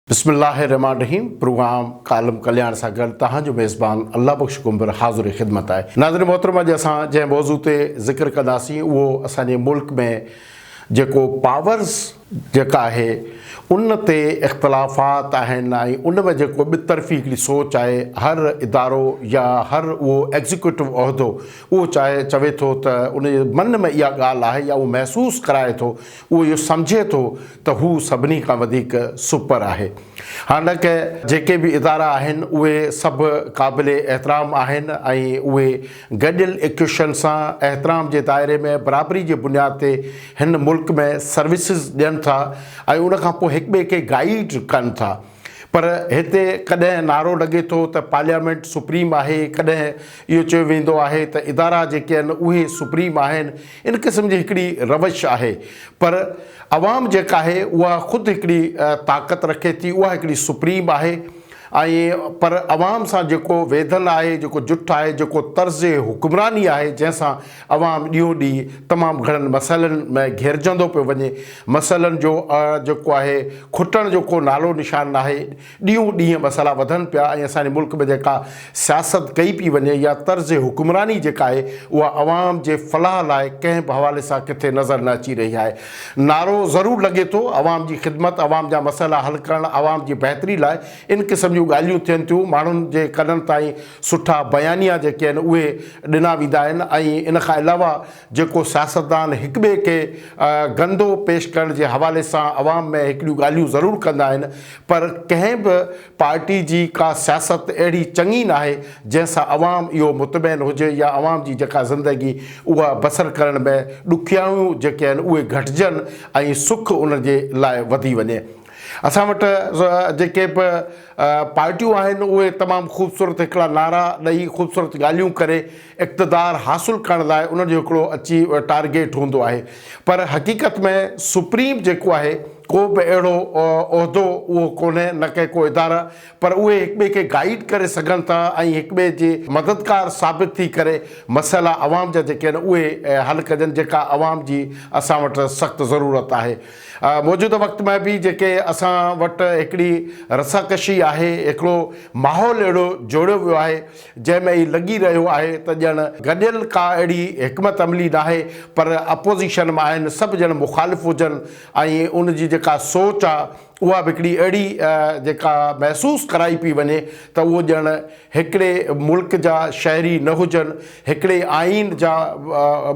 بسم الله الرحمان الرحيم پروگرام ڪالم ڪلياڻ سان گڏ توهان جو ميزبان الله بخش ڪنڀر حاضر خدمت آهي ناظرين محترم اڄ اسان جنهن موضوع تي ذڪر ڪنداسين اهو اسان جي ملڪ ۾ جيڪو پاورز جيڪا آهي ان تي اختلافات آهن ۽ ان ۾ جيڪو ٻطرفي هڪڙي سوچ آهي هر ادارو يا هر اهو ايگزيڪيوٽو عهدو اهو چاهي چوي ٿو ته ان جي من ۾ اها ڳالهه آهي يا اهو محسوس ڪرائي ٿو، اهو اهو سمجهي ٿو ته هو سڀني کان وڌيڪ سپر آهي. حالانڪه جيڪي به ادارا آهن اهي سڀ قابل احترام آهن ۽ اهي گڏيل ايڪيوشن سان احترام جي دائري ۾ برابري جي بنياد تي هن ملڪ ۾ سروسز ڏين ٿا ۽ ان کان پوء هڪٻئي کي گائيڊ ڪن ٿا. پر هتي ڪڏهن نعرو لڳي ٿو ته پارليامينٽ سپريم آهي، ڪڏهن اهو چيو ويندو آهي ته ادارا جيڪي آهن اهي سپريم آهن، ان قسم جي هڪڙي روش آهي. پر عوام جيڪا آهي اها خود هڪڙي طاقت رکي ٿي، اها هڪڙي سپريم آهي ۽ پر عوام سان جيڪو ويڌل آهي، جيڪو جٺ آهي، جيڪو طرز حڪمراني آهي جنهن سان عوام ڏينهون ڏينهن تمام گهڻن مسئلن م گهيرجندو پيو وڃي، مسئلن جو ا جيڪو آهي کٽڻ جو ڪو نالو نشان ناهي، ڏينهون ڏينهن مسئلا وڌن پيا ۽ اسان جي ملڪ ۾ جيڪا سياست ڪئي پي وڃي يا طرز حڪمراني جيڪا آهي اها عوام جي فلاح لاء ڪنهن به حوالي سان ڪٿي نظر نه اچي رهي آهي، نعرو ضرور لڳي ٿو عوام جي خدمت، عوام جا مسئلا حل ڪرڻ، عوام جي بهتري لاء ان قسم جون ڳالهيون ٿين ٿيون، ماڻهن جي ڪنن تائين سٺا بيانيا جيڪي آهن اهي. ڏنا ويندا آهن ۽ ان کان علاوه جيڪو سياستدان هڪ ٻئي کي گندو پيش ڪرڻ جي حوالي سان عوام ۾ هڪڙيون ڳالهيون ضرور ڪندا آهن پر ڪنهن به پارٽي جي ڪا سياست اهڙي چڱي ناهي جنهن سان عوام اهو مطمئن هجي يا عوام جي جيڪا زندگي اها بسر ڪرڻ ۾ ڏکيائيون جيڪي آهن اهي گهٽجن ۽ سک انهن جي لاء وڌي وڃي. اسان وٽ جيڪي به پارٽيون آهن اهي تمام خوبصورت هڪڙا نعرا ڏئي خوبصورت ڳالهيون ڪري اقتدار حاصل ڪرڻ لاء انهن جو هڪڙو اچي ٽارگيٽ هوندو آهي پر حقيقت ۾ سپريم جيڪو آهي ڪو به اهڙو عهدو اهو ڪونهي نه ڪي ڪو اداره پر اهي هڪ ٻئي کي گائيڊ ڪري سگهن ٿا ۽ هڪ ٻئي جي مددگار ثابت ٿي ڪري مسئلا عوام جا جيڪي آهن اهي حل ڪجن جيڪا عوام جي اسان وٽ سخت ضرورت آهي. موجوده وقت ۾ به جيڪي اسان وٽ هڪڙي رساڪشي آهي، هڪڙو ماحول اهڙو جوڙيو ويو آهي، جنهن ۾ هي لڳي رهيو آهي ته ڄڻ گڏيل ڪا اهڙي حڪمت عملي ناهي، پر اپوزيشن ۾ آهن، سڀ ڄڻ مخالف هجن ۽ ان جي جيڪا سوچ آ، اها به هڪڙي اهڙي جيڪا محسوس ڪرائي پئي وڃي ته اهو ڄڻ هڪڙي ملڪ جا شهري نه هجن، هڪڙي آئين جا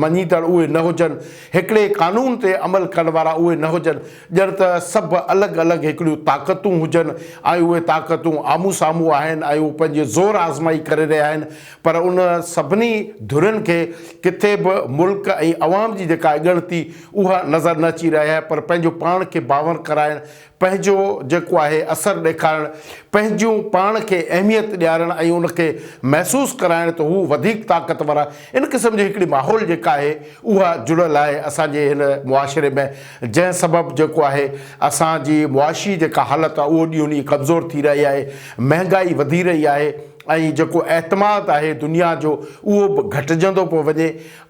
مڃيندڙ اهي نه هجن، هڪڙي قانون تي عمل ڪرڻ وارا اهي نه هجن، ڄڻ ته سڀ الڳ الڳ هڪڙيون طاقتون هجن ۽ اهي طاقتون آمهون سامهون آهن ۽ اهي پنهنجي زور آزمائي ڪري رهيا آهن پر ان سڀني ڌرين کي ڪٿي به ملڪ ۽ عوام جي جيڪا اڳڻتي اها نظر نه اچي رهيآهي پر پنهنجو پاڻ کي باور ڪرائڻ پنهنجو جيڪو آهي اثر ڏيکارڻ، پنهنجون پاڻ کي اهميت ڏيارڻ ۽ ان کي محسوس ڪرائڻ ته هو وڌيڪ طاقتور آهي. ان قسم جي هڪڙي ماحول جيڪا آهي اها جڙيل آهي اسان جي هن معاشري ۾ جنهن سبب جيڪو آهي اسان جي معاشي جيڪا حالت آهي اهو ڏينهون ڏينهن ڪمزور ٿي رهي آهي، مهنگائي وڌي رهي آهي ۽ جيڪو اعتماد آهي دنيا جو اهو به گهٽجندو پيو وڃي.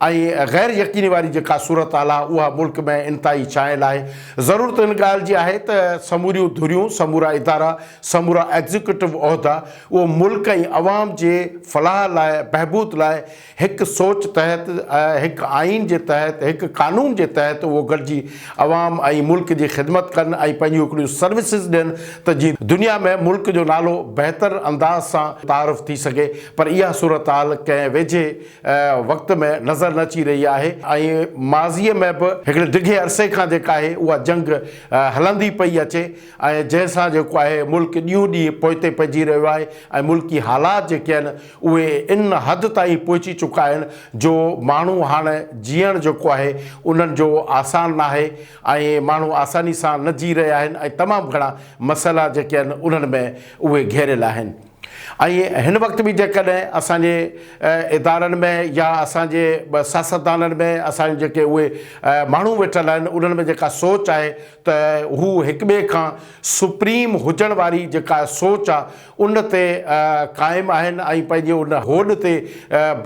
۽ غير يقيني واري جيڪا صورت حال آهي اها ملڪ ۾ انتهائي ڇانيل آهي. ضرورت ان ڳالهه جي آهي ته سموريون ڌريون، سمورا ادارا، سمورا ايگزيڪيوٽو عهدا اهو ملڪ ۽ عوام جي فلاح لاء، بهبود لاء هڪ سوچ تحت، هڪ آئين جي تحت، هڪ قانون جي تحت اهو گڏجي عوام ۽ ملڪ جي خدمت ڪن ۽ پنهنجون هڪڙيون سروسز ڏين ته جي دنيا ۾ ملڪ جو نالو بهتر انداز سان تعارف ٿي سگهي پر اها صورت حال ڪنهن ويجهي وقت ۾ نظر نه اچي رهي آهي ۽ ماضيء ۾ به هڪڙي ڊگهي عرصي کان جيڪا آهي اها جنگ هلندي پئي اچي ۽ جنهن سان جيڪو آهي ملڪ ڏينهون ڏينهن پوئتي پئجي رهيو آهي ۽ ملڪي حالات جيڪي آهن اهي ان حد تائين پهچي چڪا آهن جو ماڻهو هاڻ جيئڻ جيڪو آهي انهن جو آسان ناهي ۽ ماڻهو آساني سان نه جي رهيا آهن ۽ تمام گهڻا مسئلا جيڪي آهن انهن ۾ اهي گهيريل آهن. ائين هن وقت به جيڪڏهن اسان جي ادارن ۾ يا اسان جي سياستدانن ۾ اسان جي جيڪي اهي ماڻهو ويٺل آهن انهن ۾ جيڪا سوچ آهي ته هو هڪ ٻئي کان سپريم هجڻ واري جيڪا سوچ آهي ان تي قائم آهن ۽ پنهنجي ان هوڏ تي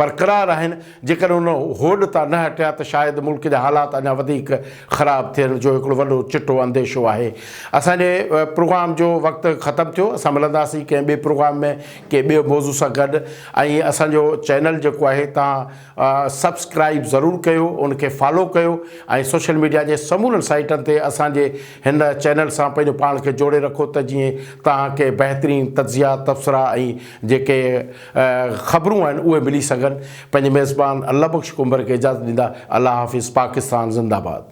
برقرار آهن جيڪڏهن ان هوڏ تان نه هٽيا ته شايد ملڪ جا حالات اڃا وڌيڪ خراب ٿيڻ جو هڪڙو وڏو چٽو انديشو آهي. اسان جي پروگرام جو وقت ختم ٿيو. اسان ملنداسين ڪنهن ٻئي پروگرام ۾ ڪنهن ٻئي موضوع سان گڏ ۽ اسان جو چينل جيڪو آهي توهان سبسڪرائيب ضرور ڪيو ان کي فالو ڪيو ۽ سوشل ميڊيا جي سمورن سائيٽن تي اسان جي هن چينل سان پنهنجو پاڻ کي جوڙي رکو ته جيئن توهان کي بهترين تجزيا تبصرا ۽ جيڪي خبرون آهن اهي ملي سگهن پنهنجي ميزبان الله بخش ڪنڀر کي اجازت ڏيندا الله حافظ پاڪستان زنده باد.